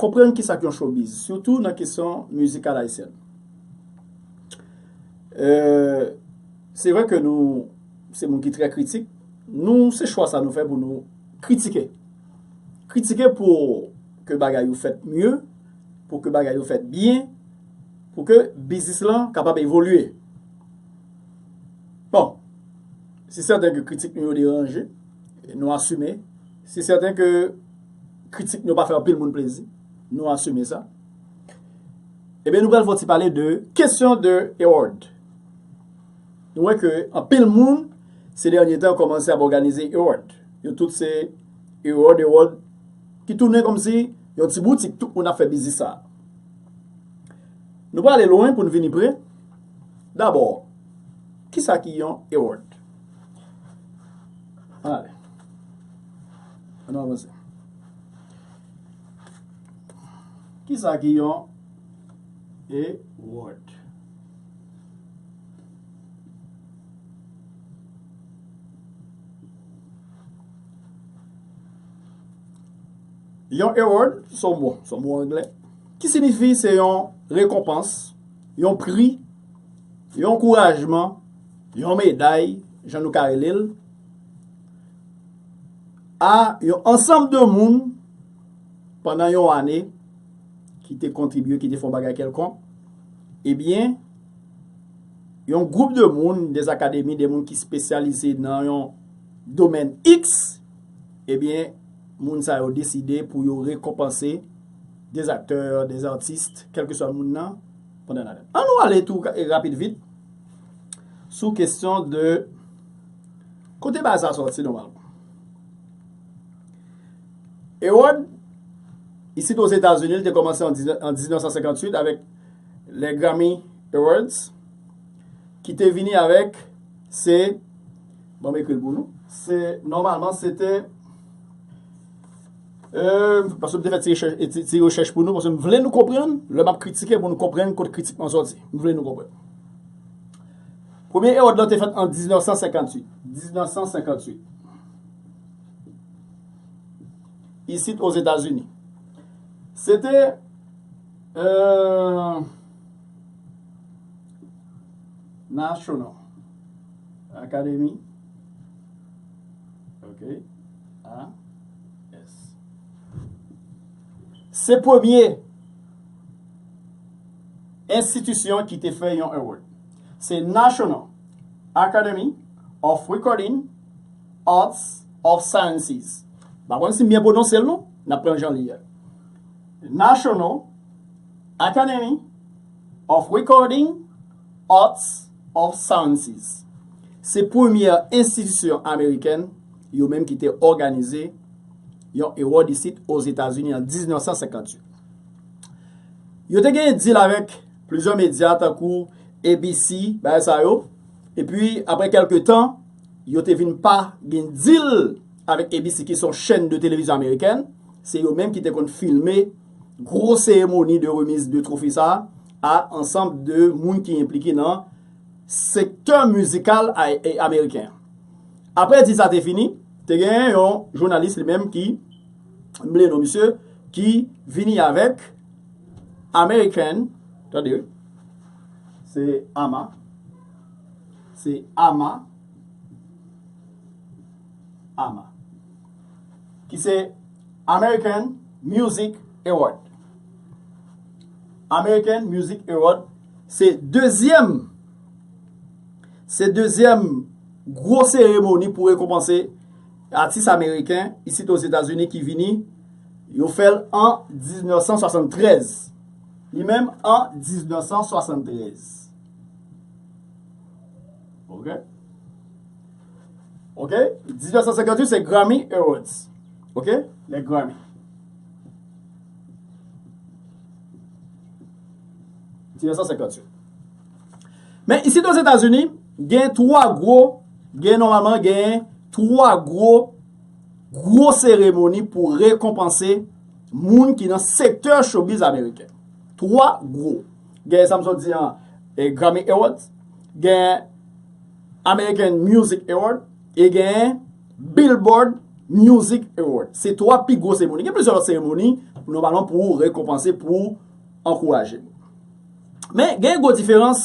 Konprann kisa k yon showbiz, sitou nan kesyon mizikal ayisyèn. Se vre ke nou se moun ki trè kritik, nou se chwa sa nou fè pou nou kritike. Kritike pou ke bagay yo fèt mye, pou ke bagay yo fèt byen, pou ke biznis lan kapab evolye. Bon, se sèten ke kritik nou yo deranje, nou asime, se sèten ke. kritik m yo pa fè anpil moun plezi, nou asime sa. Ebyen nou pral fè yon ti pale de kesyon de ewòd. Nou wè ke anpil moun se dènye tan kòmanse ap òganize ewòd. Yo tout se ewòd ewòd ki tounen kòmsi yon ti boutik tout moun ap fè biznis sa. Nou pa ale lwen pou n vini pre, dabò kisa ki yon ewòd? An ale. An nou avanse. Ki sa ki yon Ewòd? Yon Ewòd, son mo, son mo angle, ki sinifi se yon rekonpans, yon pri, yon ankourajman, yon meday, jan nou ka rele l, a yon ansanm de moun pandan yon ane ki te kontribye, ki te fon bagay kelkon, ebyen, yon gwoup de moun, des akademi, de moun ki spesyalize nan yon domen X, ebyen, moun sa yo deside pou yo rekonpanse des aktè, des artist, kelke swa moun nan, pandan yon ane. An nou ale tou rapid vit sou kesyon de. Kote bagay sa sòti nòmalman? Ewòd, isit Ozetazini, li te kòmanse an 1958 avèk le Grammy Awards, ki te vini avèk se, bon m ekri l pou nou, se nòmalman se te, eeem, paske m te fè ti rechèch pou nou, paske m vle nou konprann, lè m ap kritike pou nou konprann kote kritik mwen sòti, m vle nou konprann. Premye ewòd lan te fèt an 1958. 1958. Isit Ozetazini. Se te. Eeuh. National. Akademi. Ok. A. S. Se premye. Enstitisyon ki te fè yon award se National Academy of Recording Arts of Sciences. M pa konn si m byen pwononse l non, n ap pran l jan l ye a. National Academy of Recording Arts of Sciences. Se premyè enstitisyon amerikèn yo menm ki te òganize yon award isit Ozetazini an 1958. Yo te gen dil avèk plizyè medya tankou ABC, bagay sa yo. E pi apre kelke tan, yo te vin pa gen dil avèk ABC ki son chèn de televizyon amerikèn. Se yo menm ki te konn filme gwo seremoni de remiz de trofe sa a ansanm de moun ki enplike nan sektè mizikal ameriken. Apre dil sa te fini, te gen yon jounalis li menm ki. mnble non misye ki vini avèk American tande se ama se ama ama ki se American Music Award American Music Award se dezyèm se dezyèm gwo seremoni pou rekonpanse Atis ameriken isit Ozetazini ki vini, yo fè l an 1973. Li menm an 1973. Ok. Ok, 1958 se Grammy Awards. Ok, le Grammy. Men isit Ozetazini, Gen 3 gwo, gen nòmalman gen 3 gwo, gwo seremoni pou rekonpanse moun ki nan sektè showbiz ameriken. 3 gwo. Gen sa m sot di an, Grammy Awards, gen American Music Award, e gen Billboard Music Award. Se 3 pi gwo seremoni. Gen plizyè lòt seremoni, nòmalman pou rekonpanse, pou ankouraje. Men, gen yon gwo diferans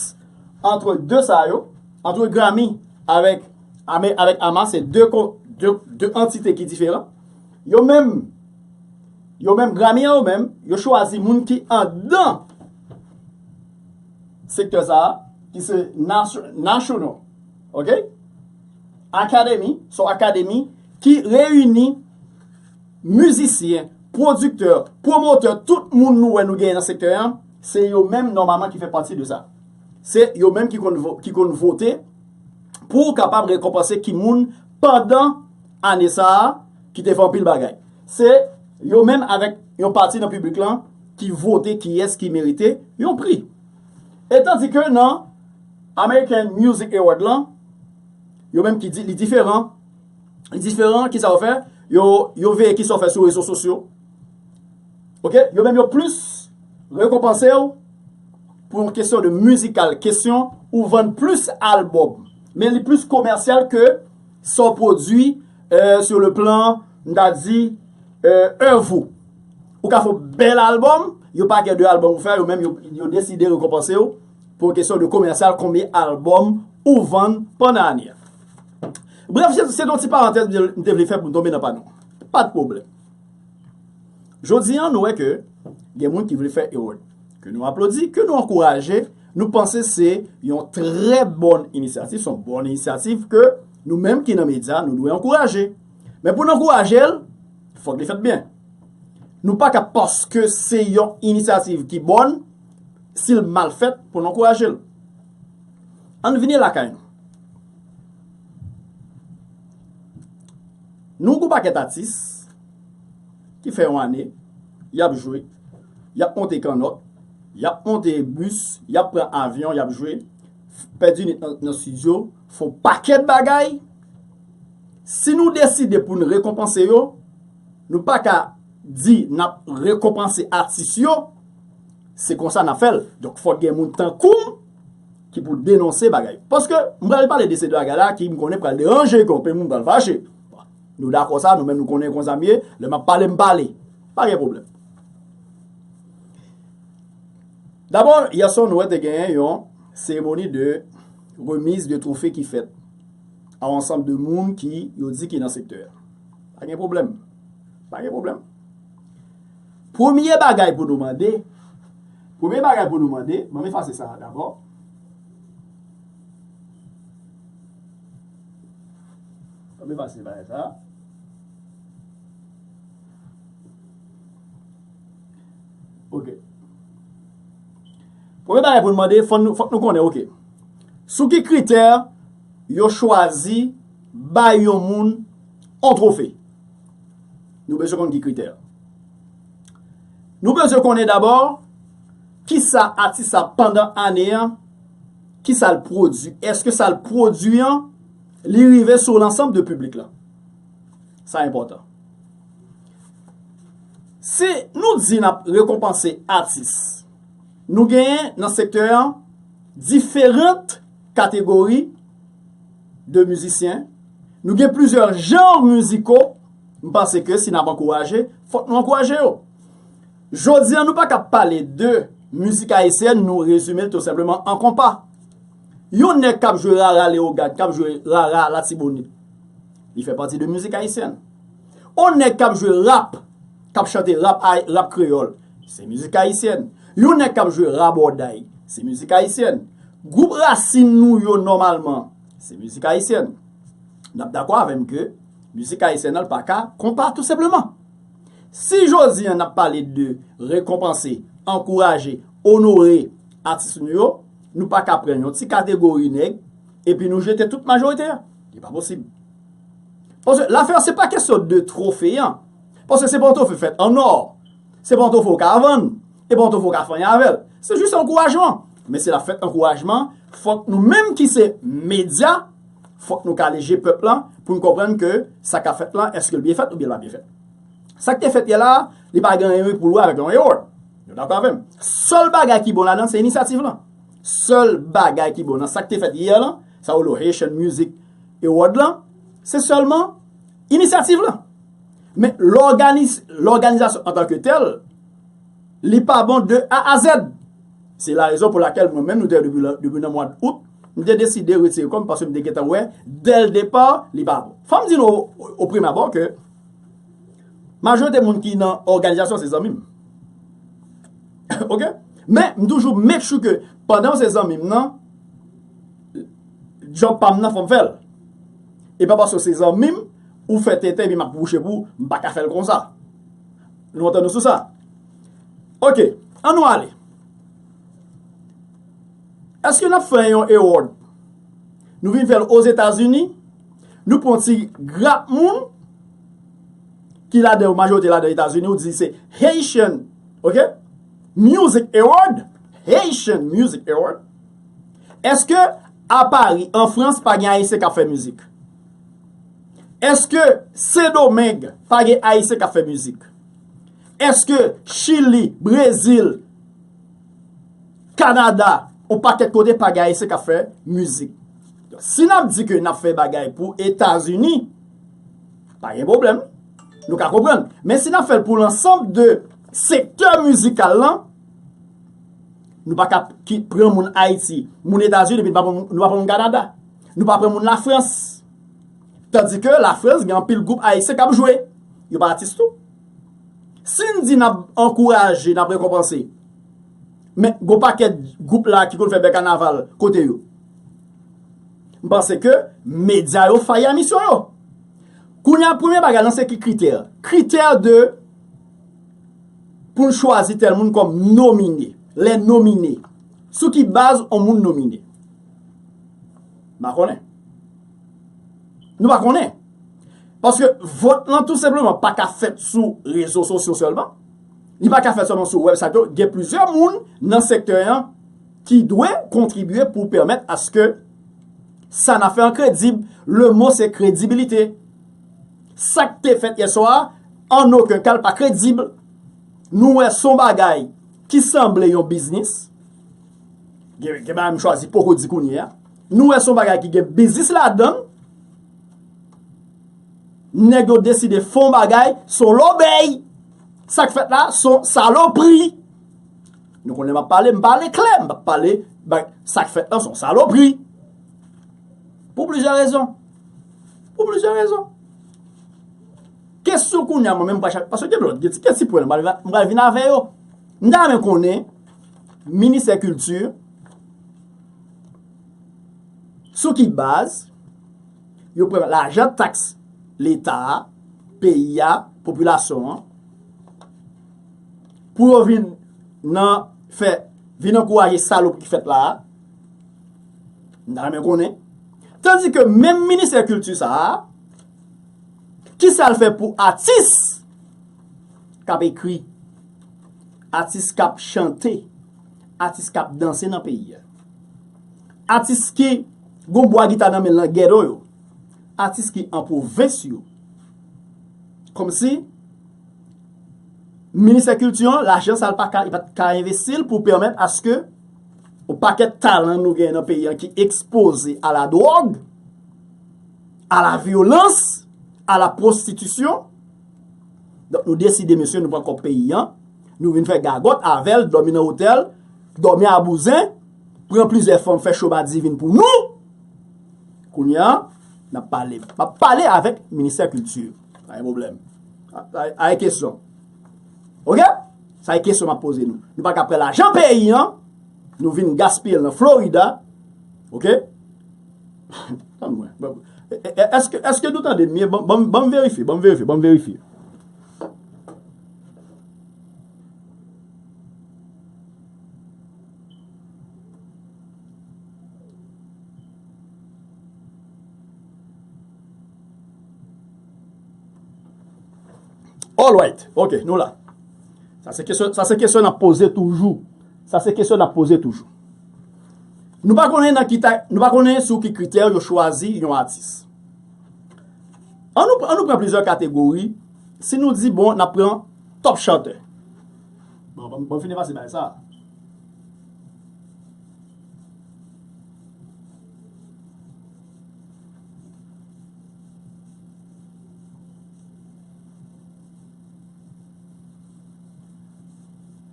antre de sa yo, antre Grammy avèk Ama, se de antite ki diferan. Yo menm, yo menm, Grammy an yo menm, yo chwazi moun ki andan sektè sa a, ki se National, ok? Academy, se yon akademi ki reyini mizisyen, pwodiktè, pwomotè, tout moun nou wè nou gen nan sektè an, Se yo menm nòmalman ki fè pati de sa. Se yo menm ki konn vote pou kapab rekonpanse ki moun pandan ane sa a ki te fè anpil bagay. Se yo menm avèk yon pati nan piblik lan ki vote kiyès ki merite yon pri. E tandi ke nan American Music Award lan, yo menm ki di li diferan, li diferan, kisa yo fè? Yo veye kisa w fè sou rezo sosyo. Ok, yo menm yo plis rekonpanse w pou yon kesyon de mizikal, kesyon ou vann plis albòm. Men li plis komèsyal ke sa w pwodui euh, sou le plan, m ta di, èv euh, ou. Ou ka fè yon bèl albòm, yo pa kè de albòm ou fè, yo menm yo deside rekonpanse w pou yon kesyon de komèsyal, konbyen albòm ou vann pandan ane a. Brèf, se ton ti parantèz m te vle fè pou m tonbe nan pano. Pa de pwoblèm. Jodi an nou wè ke gen moun ki vle fè Herod, ke nou aplodi, ke nou ankouraje, nou panse se yon trè bòn inisyativ, se yon bòn inisyativ ke nou menm ki nan medya nou dwe ankouraje. Men pou n ankouraje l, fòk li fèt byen. Nou pa ka paske se yon inisyativ ki bòn, si l mal fèt pou n ankouraje l. An n vini lakay nou. Nou gou pakèt atis ki fè yon ane y ap jwe, y ap monte kannòt, y ap monte bis, y ap pran avyon, y ap jwe, pèdi nwit nan stidyo, fè yon pakèt bagay. Si nou deside pou n rekonpanse yo, nou pa ka di n ap rekonpanse atis yo, se konsa n ap fè l. Donk fòk gen moun tankou m. ki pou denonse bagay yo. Paske, m pral pale de seri bagay la ki m konnen pral deranje kè anpil moun pral fache. Nou dakò sa, nou menm nou konnen konsa m ye, lè m ap pale m pale. Pa gen pwoblèm. Dabò, yè swa nou wè te genyen yon seremoni de remiz de trofe ki fèt a yon ansanm de moun ki yo di ki nan sektè a. Pa gen pwoblèm. Pa gen pwoblèm. Premye bagay pou nou mande, Premye bagay pou nou mande, ban m efase sa a dabò. Ban m efase bagay sa a. Ok. Premye bagay pou nou mande, fò nou konnen, ok. Sou ki kritè yo chwazi bay yon moun yon trofe? Nou bezwen konn ki kritè. Nou bezwen konnen dabò kisa atis la pandan ane an, kisa l pwodui. Eske sa l pwodui an, li rive sou lansanm de piblik la. Sa enpòtan. Si nou di n ap rekonpanse atis, nou genyen nan sektè an diferant kategori de mizisyen. Nou gen plizyè janr miziko. M panse ke si n ap ankouraje, fòk nou ankouraje yo. Jodi an nou pa kab pale de mizik ayisyèn nou rezime l tou senpleman an konpa. Yon nèg k ap jwe rara Leyogàn, k ap jwe rara Latibonit, li fè pati de mizik ayisyèn. On nèg k ap jwe rap, k ap chante rap ay, rap kreyòl, se mizik ayisyèn. Yon nèg k ap jwe rabòday, se mizik ayisyèn. Gwoup rasin nou yo nòmalman, se mizik ayisyèn. N ap dakò avè m ke. Mizik Ayisyen an l pa ka konpa tou senpleman. Si jodi an n ap pale de rekonpanse, ankouraje, onore atis nou yo, nou pa ka pran yon ti kategori nèg epi nou jete tout majorite a. Li pa posib. Paske lafè an se pa kesyon de twofe an. Paske se pa yon twofe fèt an nò. Se pa yon twofe ou ka vann. E pa yon twofe ou ka fanyen avè l. Se jis ankourajman. Men si l ap fèt ankourajman, fòk nou menm ki se medya. Fòk nou kale je pèp lan pou n konprann ke sa k ap fèt lan èske l byen fèt oubyen l pa byen fèt. Sa k te fèt yè la a, li pa gen anyen pou l wè avèk yon ewo. Nou dakò avè m? Sèl bagay ki bon ladan l se inisyativ lan. Sèl bagay ki bon nan sa k te fèt yè lan, sa yo rele Haitian Music Award lan, se sèlman inisyativ lan. Men lòganizasyon antanke tèl, Li pa bon de A a Z. Se la rezon pou lakèl mwen menm nou te depi nan mwad Out, m te deside retire kò m paske m te gentan wè dè l depa li pa bon. Fò m di nou o prim abò ke majorite moun ki nan òganizasyon se zanmi m. Ok. Men m toujou make sure ke pandan yo se zanmi m nan djòb pa m nan fò m fè l. E pa paske yo se zanmi m ou fè tenten epi m ap wouche pou ou m pa ka fè l konsa. Nou antann nou sou sa? Ok, an nou ale. Eske n ap fè yon ewòd? Nou vin fè l Ozetazini, nou pran ti grap moun ki ladan yo, majorite ladan Etazini, ou di se Haitian, ok, Music Award, Haitian Music Award. Eske a Pari, an Frans, pa gen Ayisyen k ap fè mizik? Eske sendomeng pa gen ayisyen kap fè mizik? Eske chili, brezil, kanada, on pakèt kote pa gen ayisyen kap fè mizik? Si nap di ke nap fè bagay pou etazini, pa gen problem, nou ka kompran. Men si nap fèl pou lansanm de sektè mizikal lan, nou pa kap pran moun ayiti, moun etazini, nou pa pran moun kanada. Nou pa pran moun Lafrans. Tandi ke Lafrans gen anpil gwoup Ayisyen k ap jwe. Yo pa atis tou. Si n di n ap ankouraje, n ap rekonpanse, men gwo pakèt gwoup la ki konn fè bèl kanaval, kote yo? M panse ke medya yo fayi a misyon yo. Kounye a, premye bagay lan se ki kritè? Kritè de pou n chwazi tèl moun kòm nomine. Lè nomine. Sou ki baz on moun nomine? Mpa konnen. Nou pa konnen. Paske vòt lan tout sepleman pa ka fèt sou rezo sosyo sèlman. Li pa ka fèt sèlman sou wèb sato. Gen plizyè moun nan sektè an ki dwe kontribye pou pèmèt aske sa na fè an kredib. Le mo se kredibilite. Sak te fèt yè swa an no ke kal pa kredib. Nou wè son bagay ki sanble yon biznis. Gen bagay m chwazi poko di kounye a. Nou wè son bagay ki gen biznis ladan l. Nèg yo deside fon bagay son lòbèy. Sak fèt la son salopri. Nou konn lè m ap pale m pale klè. M pa pale bay sak fèt la son salopri. Pou plizyè rezon. Pou plizyè rezon. Kesyon kounye a mwen menm pa chak. Paske gen lòt gen ti pwen m pral vin avè yo. M ta renmen konnen. Ministè kilti, sou ki baz yo pran lajan taks leta a, peyi a, popilasyon an, pou yo vin nan fè, vin ankouraje salopri ki fèt la a? M ta renmen konnen. Tandi ke menm ministè kilti sa a, ki sa l fè pou atis k ap ekri? Atis kap chante, atis kap danse nan peyi a. Atis ki gon bwa gita nan men l nan ghetto yo. Atis ki an pwovens yo. Kòm si ministè kilti an lajan sa l pa ka, li pat ka envesti l pou pèmèt aske yon pakèt talan nou gen nan peyi an ki ekspoze a la dwòg, a la vyolans, a la pwostitisyon. Donk nou deside mesye nou pran kòb peyi an, nou vin fè gagòt avèl, dòmi nan otèl, dòmi a bouzen, pran plizyè fanm fè cho madivin pou nou! Kounye an, nap pale. Map pale avèk ministè kilti. Pa gen pwoblèm. Sa e kesyon. Ok? Sa e kesyon map poze nou. Nou pa ka pran lajan peyi an, nou vin gaspiyel nan Florida. Ok? Eske nou tandem byen banm verifye banm verifye banm verifye Alright ok nou la Sa se kesyon nap poze toujou Sa se kesyon nap poze toujou Nou pa konnen nan ki tayt, nou pa konnen sou ki kritè yo chwazi yon atis. An nou an nou pran plizyè kategori, si nou di bon n ap pran top chantè. Bon ban m fin efase bagay sa a.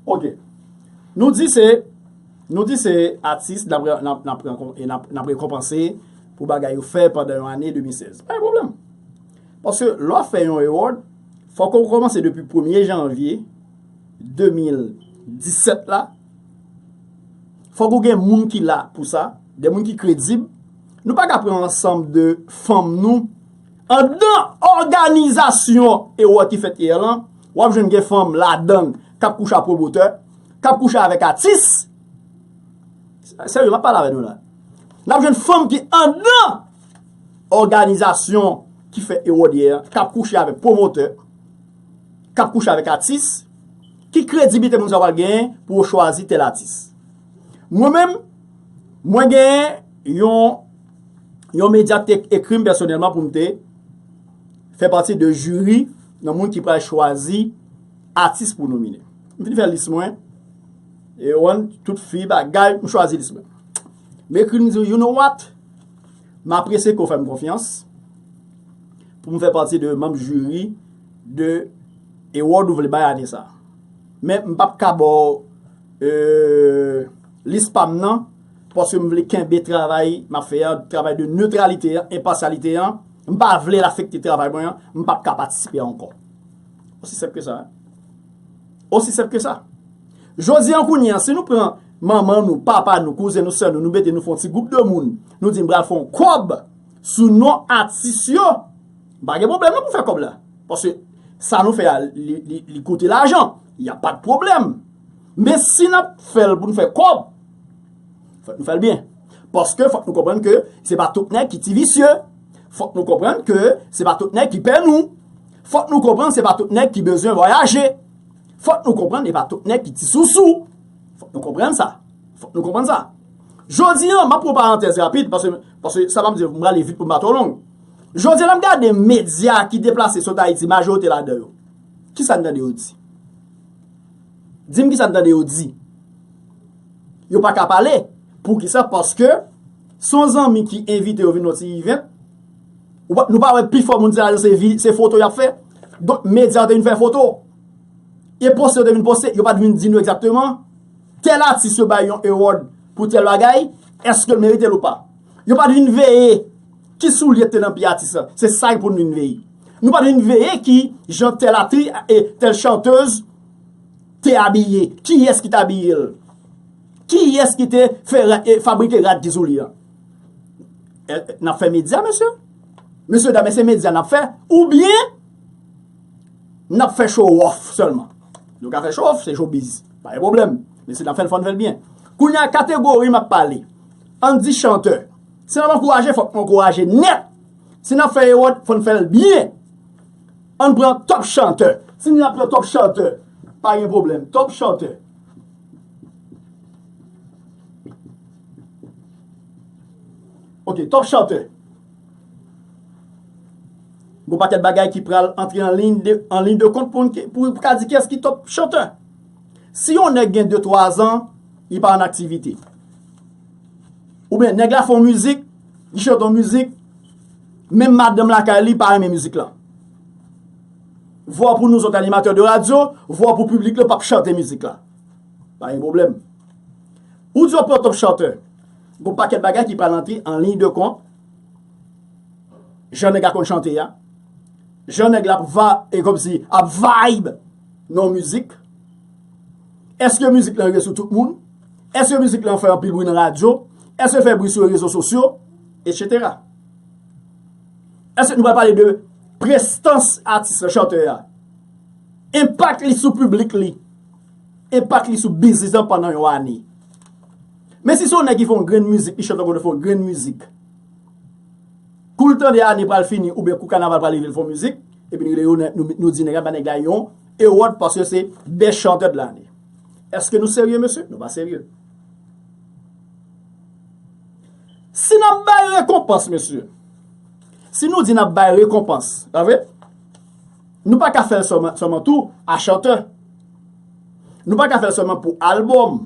Ok. Nou di se. Nou di se atis n ap rekonpanse pou bagay yo fè pandan yon ane 2016. Pa gen pwoblèm. Paske lè w ap fè yon award, fòk ou kòmanse depi premye janvye 2017 la. Fòk ou gen moun ki la pou sa, de moun ki kredib. Nou pa ka pran ansanm de fanm nou anndan òganizasyon award ki fèt yè lan. W ap jwenn gen fanm ladan l k ap kouche a pwomotè. Kap kouche avèk atis. Serye map pale avè nou la. Nap jwenn fanm ki andan òganizasyon ki fè Ewodyè an, kap kouche avèk pwomotè, kap kouche avèk atis. Ki krediblite moun sa yo pral genyen pou yo chwazi tèl atis? Mwen menm, mwen genyen yon yon medya ki te ekri m pèsonèlman pou m te fè pati de jiri nan moun ki pral chwazi atis pou nomine. M fin fè lis mwen. E ou an, tout fi bagay, m chwazi lis mwen. M ekri m di yo, you know what? M apresye ke w fè m konfyans pou m fè pati de manm jiri de award ou vle bay ane sa. Men m pap ka ba w lis pa m nan paske m vle kenbe travay m ap fè an, travay de neutralite an, enpasyalite an. M pa vle l afekte travay mwen an. M pap ka patisipe ankò. Osi senp ke sa. Osi senp ke sa. Jodi an kounye an, si nou pran manman nou, papa nou, kouzen nou, sè nou, nou mete nou fon ti gwoup de moun, nou di m pral fon kòb sou non atis yo, m pa gen pwoblèm non pou fè kòb la. Paske sa nou fè a, li koute lajan. Y a pa de pwoblèm. Men si n ap fè l pou n fè kòb, fòk nou fè l byen. Paske fòk nou konprann ke se pa tout nèg ki ti visye. Fòk nou konprann ke se pa tout nèg ki pè nou. Fòk nou konprann se pa tout nèg ki bezwen vwayaje. Fòk nou konprann e pa tout nèg ki ti sousou. Fòk nou konprann sa. Fòk nou konprann sa. Jodi an, m ap pran yon parantèz rapid, paske, paske sa m ap di yo, m prale vit pou m pa twò long. Jodi an, lè m gade medya ki deplase sot Ayiti, majorite ladan yo, ki sa n tande yo di? Di m ki sa n tande yo di? Yo pa ka pale. Poukisa? Paske, se yon zanmi ki envite yo vin yon ti ivent, Nou pa wè pi fò moun sa yo se foto y ap fè. Donk medya yo te vin fè foto. E poste yo te vin poste, yo pa te vin di nou egzakteman tèl atis yo bay yon award pou tèl bagay, èske l merite l ou pa. Yo pa te vin veye ki soulye ki te nan pye atis la. Se sa pou nou vin veye. Nou pa te vin veye ki jan tèl atri e tèl chantez te abiye. Kiyès ki te abiye l? Kiyès ki te fabrike rad ki sou li an? N ap fè medya mesye? Mesye dam se medya n ap fè? Ou byen n ap fè chowòf sèlman? Nou ka fè chowòf se chobiz pa gen pwoblèm men si n ap fè l fò n fè l byen. Kounye a kategori m ap pale an n di chantè si n ap ankouraje fòk nou ankouraje nèt si n ap fè ewòd fò n fè l byen an n pran tòp chantè si n ap pran tòp chantè pa gen pwoblèm tòp chantè. Ok top chanteur. Gon paket bagay ki pral antre an ligne de an ligne de compte poun ki pou ka di kiyes ki top chanteur. Si yon neg gen 2 3 ans li pa an aktivite. Ou byen neg la fon mizik li chante yon mizik menm madanm lakay li pa renmen mizik lan. Vwa pou nou zot animateur de radio, vwa pou public lan pap chante mizik la. Pa gen problem. Ou di yo pran Top Charter. Gon pakèt bagay ki pral antre an liy de kont, jan nèg la konn chante a, jan nèg la ap kòmsi ap vibe nan yon mizik. Èske mizik lan rive sou tout moun? Èske mizik lan fè anpil bri nan radyo? Èske l fè bri sou rezo sosyo? Etc. Èske nou pral pale de prestans atis la, chantè a? Enpak li sou piblik li? enpak li sou biznis lan pandan yon ane. Men si se yon nèg ki fè yon grenn mizik, li chante yon kote fè yon grenn mizik, kou l tande ane pral fini oubyen kou kanaval pral rive l fè yon mizik, epi li rele yo, nou di nèg la, bay nèg la yon ewòd paske se best chanteur de l'année. Èske nou serye mesye? Nou pa serye. Si n ap bay rekonpans mesye, si nou di n ap bay rekonpans, pa vre? Nou pa ka fè l sèlman tou a chantè. Nou pa ka fè l sèlman pou albòm.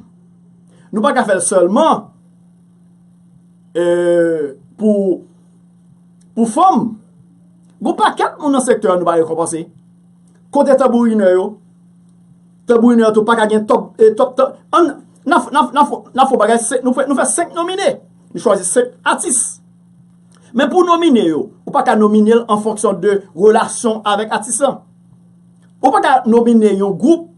Nou pa ka fè l sèlman pou fanm. Gon pakèt moun nan sektè an nou pa rekonpanse. Kote tanbourinè yo? Tanbourinè yo tou pa ka gen top. Nan fon bagay, nou fè 5 nomine. Nou chwazi 5 atis. Men pou w nomine yo, ou pa ka nomine l an fonksyon de relasyon w avèk atis lan. Ou pa ka nomine yon gwoup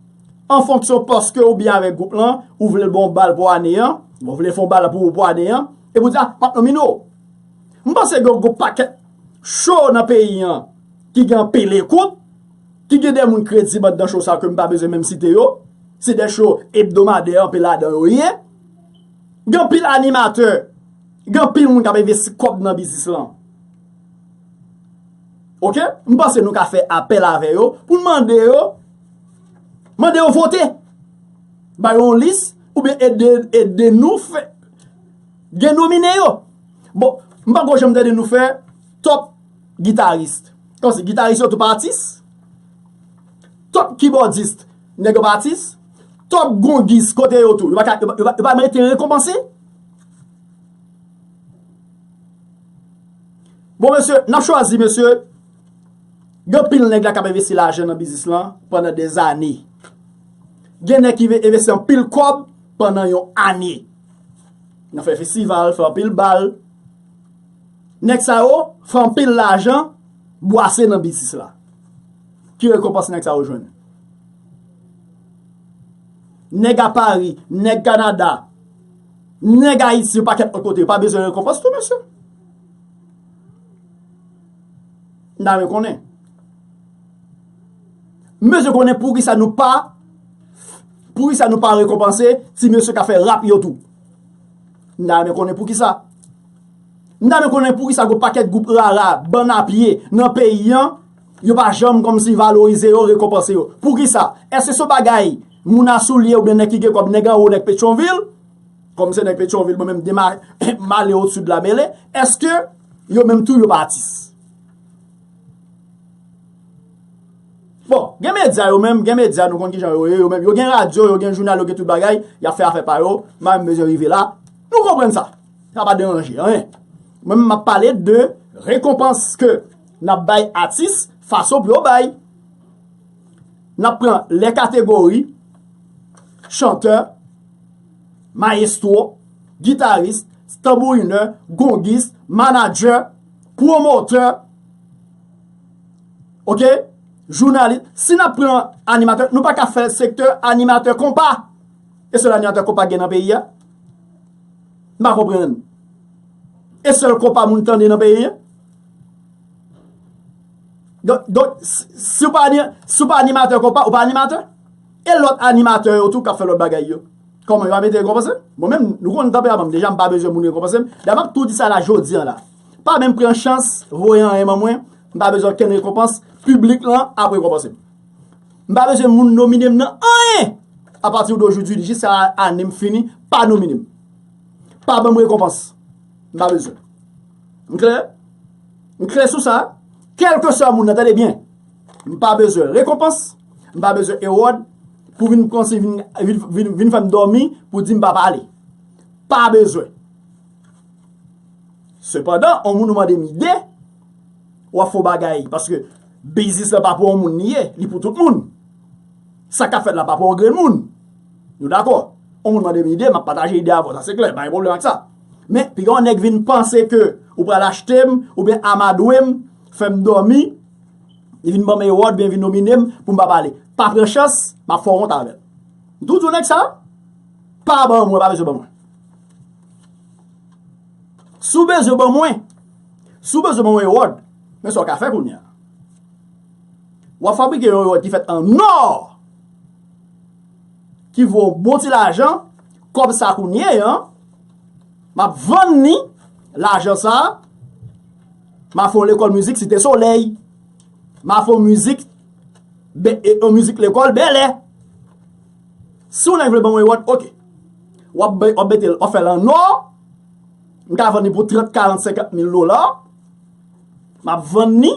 an fonksyon paske ou byen avèk gwoup lan, ou vle l ba w bal pou ane an, ou vle l fè yon bal pou ou pou ane an, epi ou di a, m ap nomine w. M panse gen yon gwoup pakèt cho nan peyi an ki gen anpil ekout, ki gen de moun kredib anndan cho sa yo ke m pa bezwen menm site yo, se de cho ebdomadè anpil ladan yo ye. Gen anpil animatè. Gen anpil moun k ap envesti kòb nan biznis lan. Ok, m panse nou ka fè apèl avè yo pou n mande yo mande yo vote. Ba yo yon lis oubyen ede nou fè gen nomine yo. Bon, m pa ko janm tande nou fè top guitarist. Kòmsi, guitarist yo tou pa atis? Top kibòdist, nèg yo pa atis? Top gongis, kote yo tou? Yo pa merite rekonpanse? Bon mesye, nap chwazi mesye, gen pil nèg la kap envesti lajan nan biznis lan pandan dè zane. Gen nèg ki ve envesti an pil kòb pandan yon ane. Nan fè festival, fè an pil bal. Nèg sa yo, fè an pil lajan, bwase nan biznis la. Ki rekonpans nèg sa yo jwenn? Nèg a Paris, nèg Canada. Nèg ayiti yo pakèt lòt kote yo pa bezwen rekonpans tou mesye? M ta renmen konnen. M bezwen konnen poukisa nou pa poukisa nou pa rekonpanse ti mesye k ap fè rap yo tou? M ta renmen konnen poukisa? M ta renmen konnen poukisa gwo pakèt gwoup rara bann a pye nan peyi an Yo pa janm kòmsi valorize yo, rekonpanse yo. Poukisa? Èske se yon bagay moun a souliye oubyen nèg ki gen kòb, nèg anwo, nèg Petyonvil? Kòm se nèg Petyonvil, mwen menm dema male odsu de la mele. Èske yo menm tou yo pa atis? Bon, gen medya yo menm, gen medya nou konn kijan yo ye yo menm. Yo gen radyo, yo gen jounal, yo gen tout bagay. Yap fè afè pa yo. M pa menm bezwen rive la. Nou konprann sa. Sa pa deranje anyen. Mwen menm map pale de rekonpans ke. Nap bay atis fason pou yo bay. Nap pran lè kategori, chantè, mayestwo, gitaris, tanbourinè, gongis, manadjè, pwomotè, ok, jounalis. Si nap pran animatè, nou pa ka fè sektè animatè konpa. E sèl animatè konpa gen nan peyi a? M pa konprann. E sèl konpa moun tande nan peyi a? Donk, si w pa animatè konpa, ou pa animatè? E lòt animatè yo tou kap fè lòt bagay yo? Kòman yo pa mete rekonpanse? Mwen menm, nou konnen tanperaman m, deja m pa bezwen moun rekonpanse m, dayè m ap tou di sa la jodi an la. Pa menm pran chans voye anyen ban mwen, m pa bezwen okenn rekonpanse, piblik lan ap rekonpanse m. M pa bezwen moun nomine m nan anyen! A pati w do jou di, jis a ane m fini, pa nomine m. Pa ban m rekonpanse. M pa bezwen. M klè? M klè sou sa? Kèlkeswa moun nan, tande byen, m pa bezwen rekonpans, m pa bezwen ewòd pou vin pran si vin fè m dòmi pou di m pa pale. Pa bezwen. Sepandan, on moun ou mande m ide, w ap fè yon bagay paske biznis lan pa pou on moun li ye, li pou tout moun. Sa k ap fèt la pa pou on grenn moun. Nou dakò? On moun mande m ide, m ap pataje ide avè w, sa se klè, m pa gen pwoblèm ak sa. Men, piga yon nèg vin panse ke ou pral achte m, oubyen amadwe m, fè m dòmi, li vin ban m ewòd, oubyen vin nomine m pou m pa pale. Pa pran chans, m ap fè w wont avè l. M toujou di nèg sa, pa ban mwen, pa bezwen ban mwen. Si w bezwen ban mwen, si w bezwen ban mwen ewòd, men sa w ka fè kounye a. W ap fabrike yon ewòd ki fèt an nò, ki vo bon ti lajan, kòb sa kounye an, Map vann ni lajan sa. Ma fon lekol mizik site soley. Ma fon mizik lekol bele. Si w neg vle ban mwen wot ok. Wap bete l ofel an or. M ka vann ni pou 30, 40, 50 mil dola. Map vann ni.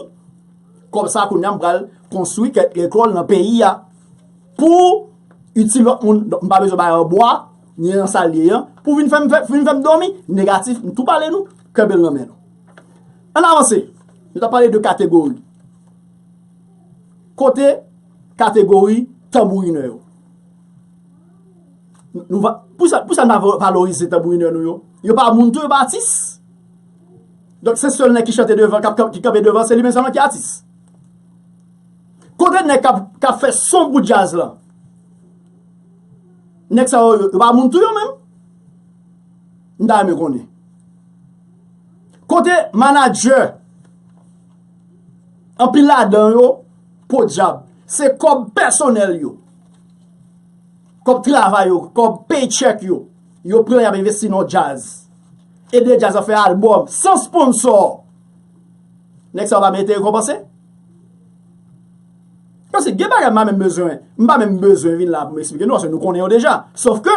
Kob sa koun yam pral konstwi kek lekol nan peyi ya. Pou iti lot moun. M pa bezwen bay an bwa. Nye nan sal ye an pou vin fèm vin fèm dòmi negatif m tou pale nou kè bel nan men nou ann avanse nou ta pale de kategori kote kategori tanbourinè yo nou va pou sa pou sa n pa valorize tanbourinè nou yo yo pa moun tou yo pa atis donk se sèl nèg ki chante devan kap kap ki kanpe devan se li menm sèlman ki atis kote nèg kap kap fè son pou djaz lan. Nèg sa yo, yo pa moun tou yo menm? M ta renmen konnen. Kote manadjè? Anpil ladan yo, podyab, se kòb pèsonèl yo. Kòb travay yo, kòb pay check yo. Yo pran y ap envesti nan djaz. Ede djaz la fè albòm, san sponsò. Nèg sa yo pa merite rekonpanse? Paske gen bagay m pa menm bezwen, m pa menm bezwen vin la pou m eksplike nou paske nou konnen yo deja. Sof ke,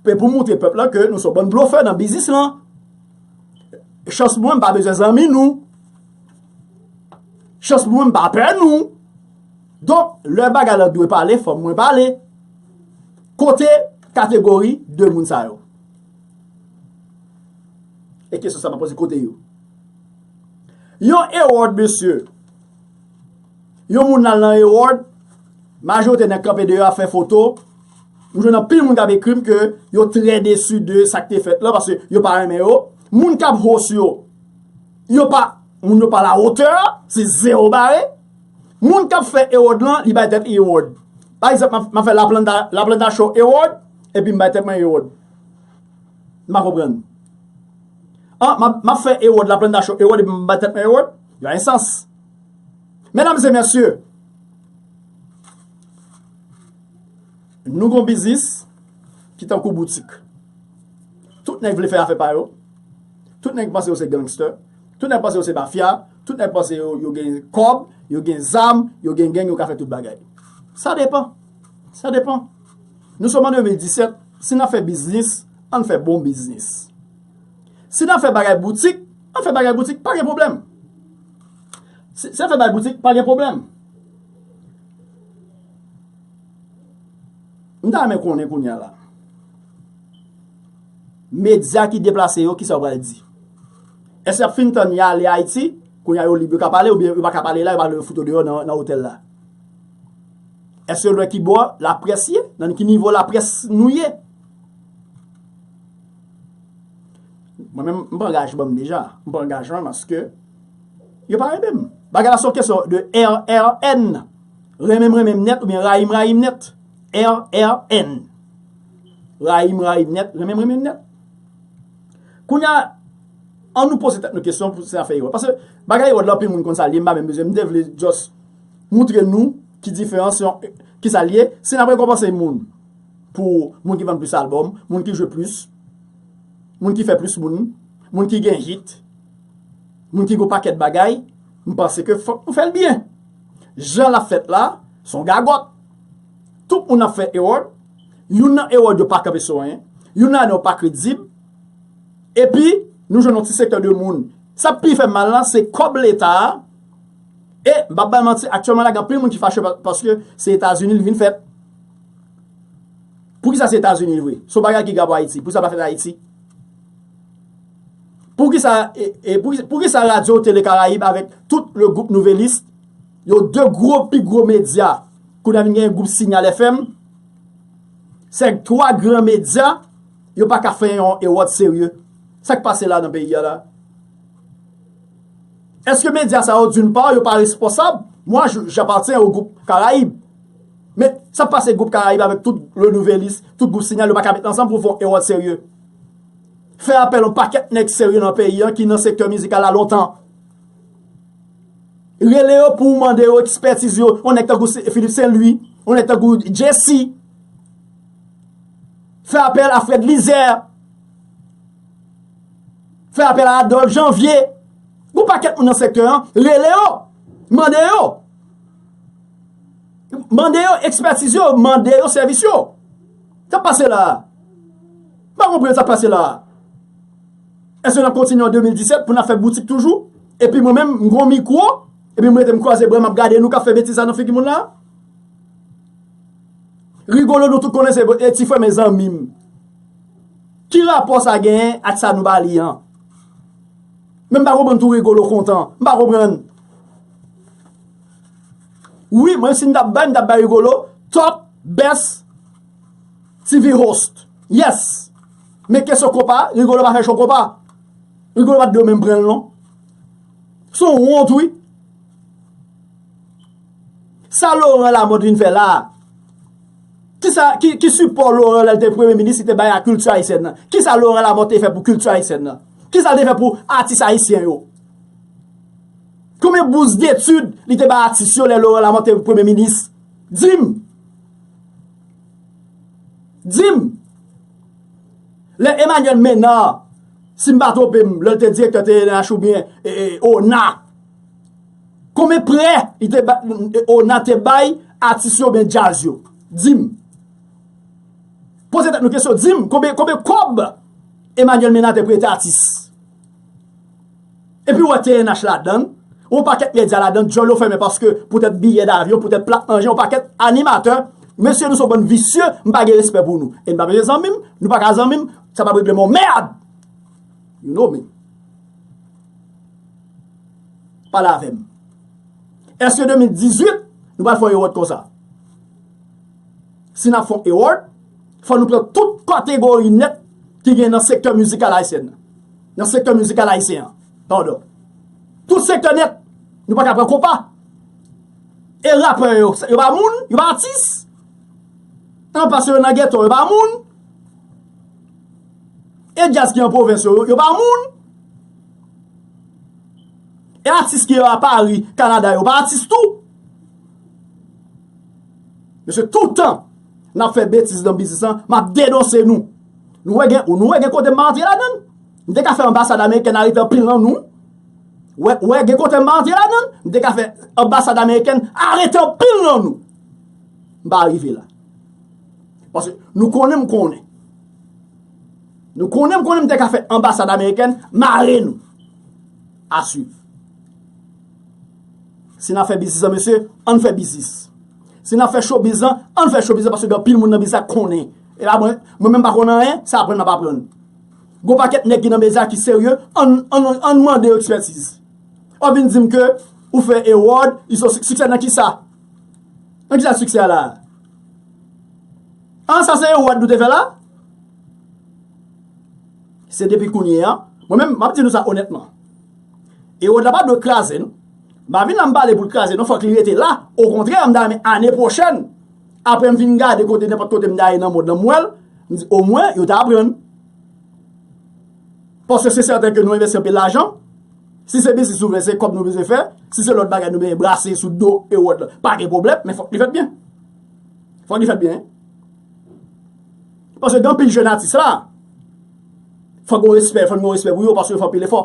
se pou montre pèp la ke nou se yon bann blofè nan biznis lan. Chans pou mwen m pa bezwen zanmi nou. Chans pou mwen m pa pè nou. Donk, lè bagay la dwe pale, fòk mwen pale. Kote kategori de moun sa yo? E kesyon sa m ap poze, kote yo? Yon Erod mesye. Yon moun al nan Herald, majorite nèg kanpe deyò ap fè foto, m jwenn anpil moun k ap ekri m ke yo trè desu de sa k te fèt la paske yo pa renmen yo, moun k ap host yo, yo pa, moun yo pa la hotè, se zero bare, moun k ap fè Herald lan li bay tèt li Herald. Pa egzanp m ap fè La Planta Show Herald epi m bay tèt mwen Herald. M pa konprann. M ap fè Herald, La Planta Show Herald epi m bay tèt mwen Herald? Yon ensans. Medam e mesye, nou gon biznis ki tankou boutik. Tout nèg vle fè afè pa yo, tout nèg panse yo se gangster, tout nèg panse yo se mafya, tout nèg panse yo gen kòb, yo gen zam, yo gen geng, yo ka fè tout bagay. Sa depan. Sa depan. Nou som an 2017, si nan fè biznis, ann fè bon biznis. Si nan fè bagay boutik, an fè bagay boutik, pa gen pwoblèm. Si nan fè bagay boutik, pa gen pwoblèm. M ta renmen konnen kounye a la. Medya ki deplase yo, ki sa yo pral di? Èske y ap fin tann y ale Ayiti, kounye a yo lib, yo ka pale oubyen yo pa ka pale la, yo pral fout yo deyò nan otèl la? Èske yo lwè ki bò laprès ye? Nan ki nivo laprès nou ye? Mwen menm m pran angajman m deja. M pran angajman paske yo pa renmen m. Bagay la se yon kesyon de RRN. Renmen m renmen m nèt oubyen rayi m rayi m nèt. RRN. Rayi m rayi m nèt, renmen m renmen m nèt. Kounye a, an nou poze tèt nou kesyon pou se afè Erod. Pase bagay Erod la anpil moun konn sa l ye m pa menm bezwen. M te vle just moutre nou ki diferans yon, ki sa l ye. Si n ap rekonpanse moun. Pou moun ki vann plis album, moun ki jwe plis, moun ki fè plis moun, moun ki gen hit, moun ki gen yon pakèt bagay, m panse ke fòk nou fè l byen. Jan l ap fèt la, s on gagòt. Tout moun ap fè award, youn nan award yo pa kanpe sou anyen, youn ladan yo pa kredib, epi nou jwenn yon ti sektè de moun. Sa k pi fè m mal la, se kòb leta a, e m pa p bay manti aktyèlman la gen anpil moun ki fache paske se Etazini li vin fèt. Poukisa se etazini vre. Son bagay ki grav pou ayiti. Poukisa pa fèt ayiti. Poukisa radio tele karayib avek tout le group nouvelis yo de gro pi gro media kou nan vin gen group sinyal FM se 3 gran media yo pa ka fè yon ewòt serye. Sak pase la nan peyi a la. Eske media sa yo dun pa yo pa responsab. Mwa japatyen o group karayib. Men, sa pase gwoup Karayib avèk tout Le Nouvelliste, tout gwoup Sinyal yo pa ka met ansanm pou fon Ewòd serye? Fè apèl yon pakèt nèg serye nan peyi an ki nan sektè mizikal la lontan. Rele yo pou mande yo ekspètiz yo, yon nèg tankou Philippe Saint Louis, yon nèg tankou Jessy. Fè apèl a Fred Lizer. Fè apèl a Adolphe Janvier. Yon pakèt moun nan sektè an, rele yo, mande yo. Mande yo ekspertiz yo, mande yo sèvis yo. Sa pase la a? M pa konprann sa pase la a. Eske nap kontinye an 2017 pou nap fè boutik toujou? Epi mwen menm m gon mikwo, epi m rete m kwaze bra map gade nou kap fè betiz sa nan figi moun la a? Rigolo nou tout konnen se e ti frè men zanmi m. Ki rapò sa genyen ak sa nou ba li an? Men m pa konprann tou Rigolo kontan. M pa konprann. Wi mwen si m tap bay m tap bay Rigolo top best TV host yes men kesyon konpa Rigolo pa fè show konpa Rigolo pat dwe menm pran l non son wont wi sa Laurent Lamothe vin fè la kisa ki sipò Laurent lè l te premye minis li te bay a kilti ayisyèn nan kisa Laurent Lamothe te fè pou kilti ayisyèn nan kisa l te fè pou atis ayisyen yo Konbyen bous detid li te bay atis yo lè Laurent Lamothe te premye minis? Di m! Di m! Lè Emmanuel Menard, si m pa twonpe m, lè l te direktè TNH oubyen ona, konbyen prè li te bay, ona te bay atis yo oubyen djaz yo? Di m! Poze tèt nou kesyon, di m! Konbyen kòb Emmanuel Menard te prete atis? Epi ou wè TNH ladan l, yon pakèt medya ladan l, dyòl yo fèmen paske poutèt biyè davyon, poutèt plat manje, yon pakèt animatè. Mesye nou son bann visye, m pa gen respè pou nou. E n pa bezwen zanmi m, nou pa ka zanmi m, sa p ap regle m yon mèd! You know me. Pale avè m. Èske 2018, nou pral fè yon ewòd konsa? Si n ap fè yon ewòd, fò nou pran tout kategori nèt. Ki gen nan sektè mizikal Ayisyen nan. Nan sektè mizikal Ayisyen an. Padon. Tout sektè nèt. Nou pa ka pran konpa. E rapè yo. Yo pa moun. Yo pa atis. An pase yo nan geto. Yo pa moun. E djaz ki an pwovens yo. Yo pa moun. E atis ki yo a Pari, Kanada. Yo pa atis tou. Mesye toutan. Nap fè betiz nan biznis lan, map denonse nou. Nou wè gen, nou wè gen kote mwen antre ladan l? M te ka fè anbasad amerikèn arete anpil nan nou. Wè, wè gen kote mwen antre ladan l? M te ka fè anbasad amerikèn arete anpil nan nou. M pa rive la. Paske nou konnen m konnen. Nou konnen m konnen m te ka fè anbasad amerikèn mare nou. A swiv. Si n ap fè biznis lan mesye, an n fè biznis. Si n ap fè chobiz lan, an n fè chobiz lan paske gen anpil moun nan biznis la k konnen. E la mwen, mwen menm m pa konnen anyen, se aprann m ap aprann. Gen yon pakèt nèg ki nan biznis la ki serye, an n, an n, an n mande yo ekspètiz. W ap vin di m ke ou fè Ewòd, li son siksè. Siksè nan kisa? Nan kisa siksè a la a? An, sa se Ewòd nou te fè la a? Se depi kounye a, mwen menm, m ap di nou sa onètman. E wòd la pa dwe kraze non. M pa vin la m pale pou l kraze non fòk li rete la. Okontrè m ta renmen ane pwochèn aprè m fin gade kote nenpòt kote m ta ye nan mond lan m wè l, m di omwen yo ta aprann. Paske se sèten ke nou envesti anpil lajan. Si se biznis nou vle se kòb nou bezwen fè. Si se lòt bagay nou bezwen brase sou do e wòd la pa gen pwoblèm men fòk li fèt byen. Fòk li fèt byen. Paske gen anpil jèn atis la, fò gen yon respè, fò gen yon respè pou yo paske yo fè anpil efò.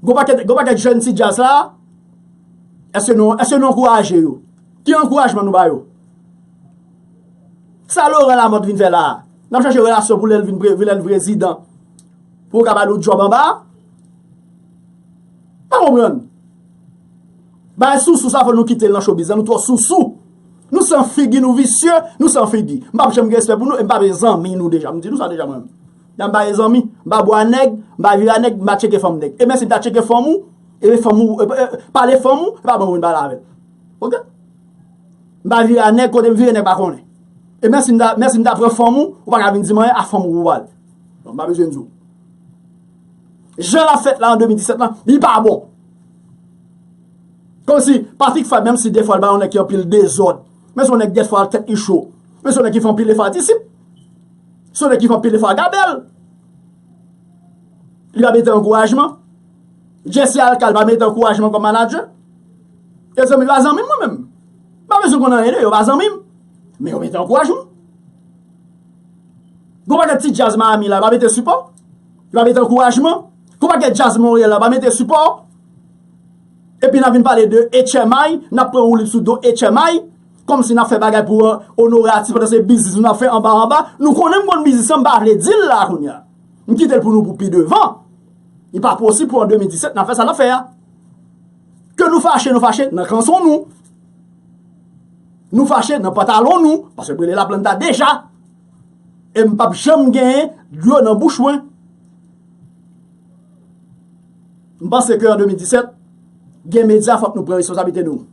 Gen yon pakèt, gen yon pakèt jèn ti djaz la, eske nou, eske nou ankouraje yo? Ki ankourajman nou ba yo? Sa Laurent Lamothe vin fè la a? Nap chache relasyon pou lè l vin pre, lè l vin prezidan, pou yo ka ba nou djòb anba? M pa konprann. Bagay sousou sa fò nou kitel nan showbiz la nou twò sousou nou san figi nou visye nou san figi m pap janm gen respè pou nou e m pa vle zanmi nou deja m di nou sa deja mwen menm m pa vle zanmi m pa bwa nèg m pa vira nèg m pa tcheke fanm nèg e menm si m ta tcheke fanm ou e fanm ou e pale fanm ou e pa ban moun pale avè l ok m pa vira nèg kote m vire nèg pa konnen e menm si m ta menm si m ta pran fanm ou ou pa ka vin di m anyen a fanm ou pou w pale m pa bezwen di w jan l ap fèt la an 2017 lan li pa bon. Konsi, pa fik fwa menm si defwa l ba yon nèg ki anpil dezòd. Men son nèg dèfwa tèt li cho. Men son nèg ki fè anpil efò a disip. Son nèg ki fè anpil efò a gabèl. Li pa mete ankourajman. Jesse Alcal pa mete ankourajman kòm manadjè. E zanmi, pa zanmi mwen menm. Pa bezwen konn anyen de yo, pa zanmi m. Men yo mete ankourajman. Gon paket ti djaz Miami la, yo pa mete sipò. Yo pa mete ankourajman? Konpa gen djaz Montréal la pa mete sipò? Epi nap vin pale de etchèmay, nap pran woulib sou do etchèmay, kòm si nap fè bagay pou onore atis pandan se biznis nou nap fè anba anba. Nou konnen m konn biznis lan m pa vle di l la kounye a. M kite l pou nou pou pi devan. Li pa posib pou an 2017 nap fè sa nap fè a. Ke nou fache nou fache nan kanson nou. Nou fache nan pantalon nou, paske brele laplanta deja. E m pap janm gen dlo nan bouch mwen. M panse ke an 2017, gen medya fòk nou pran responsabilite nou.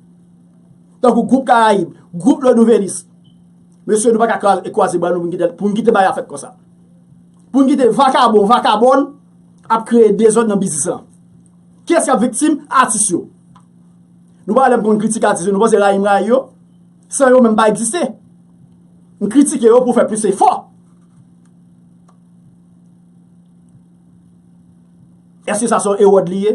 Tankou gwoup Karayib, gwoup Le Nouvelliste. Mesye nou pa ka kwaze bra nou pou n kite bagay la fèt konsa. Pou n kite vakabon, vakabòn ap kreye dezòd nan biznis lan. Kiyès k ap viktim? Atis yo. Nou pa wè lè m konn kritike atis yo, nou panse rayi m rayi yo? San yo menm pa egziste. M kritike yo pou fè plis efò. Eske sa se yon ewòd li ye?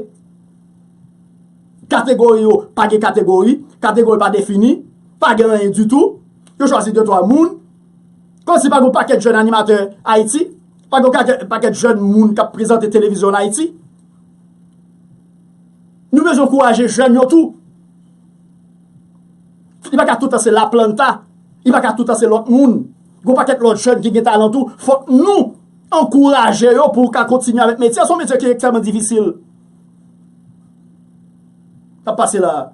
Kategori yo pa gen kategori, kategori pa defini, pa gen anyen ditou. Yo chwazi de twa moun. Kòm si pa gen yon pakèt jèn animatè Ayiti, pa gen yon pakèt jèn moun k ap prezante televizyon an Ayiti. Nou bezwen ankouraje jèn yo tou. Li pa ka tout tan se la planta, li pa ka tout tan se lòt moun. Gon pakèt lòt jèn ki gen talan tou, fòk nou ankouraje yo pou ka kontinye avèk metye a, se yon metye ki ekstrèman difisil. Kap pase la a?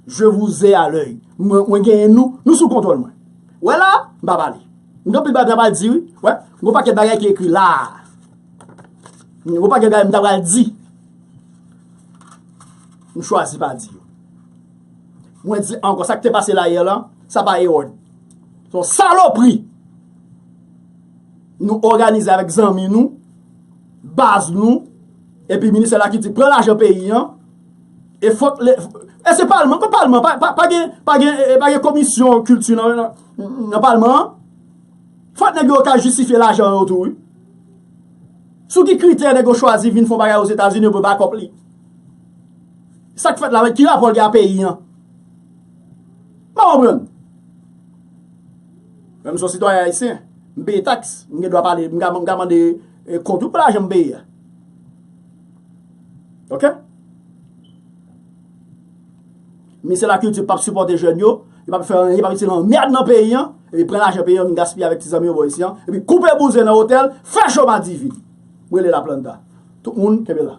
Je vous ai à l'oeil. Mwen genyen nou, nou sou kontwòl mwen. Wè la a? M pa pale. M gen anpil bagay m ta pral di wi. Wè, gon pakèt bagay ki ekri la a. Gon pakèt bagay m ta pral di. M chwazi pa di yo. Mwen di ankò sa k te pase la yè lan, sa pa Erod. Se yon salopri nou òganize avèk zanmi nou, baz nou, epi ministè la ki di pran lajan peyi an, e fòk le, e se palman, pa palman, pa gen, pa gen, pa gen komisyon kilti nan, nan palman an, fòk nèg yo ka jistifye lajan yo tou wi. Sou ki kritè nèg yo chwazi vin fon bagay Ozetazini yo pou bakòp li? Sa k fèt la menm? Ki rapò l gen a peyi an? M pa konprann. Mwen m son sitwayen ayisyen. M peye taks. M gen dwa pale. M ka mande kont wi pou lajan m peye a. Ok? Ministè la kilti pap sipòte jèn yo. Yo pap fè anyen. Yo pap itil anmèd nan peyi an. Epi pran lajan peyi an vin gaspiye avèk ti zanmi yo bò isi an. Epi koupe bouzen nan otèl. Fè cho madivi. M rele laplanta. Tout moun kenbe la.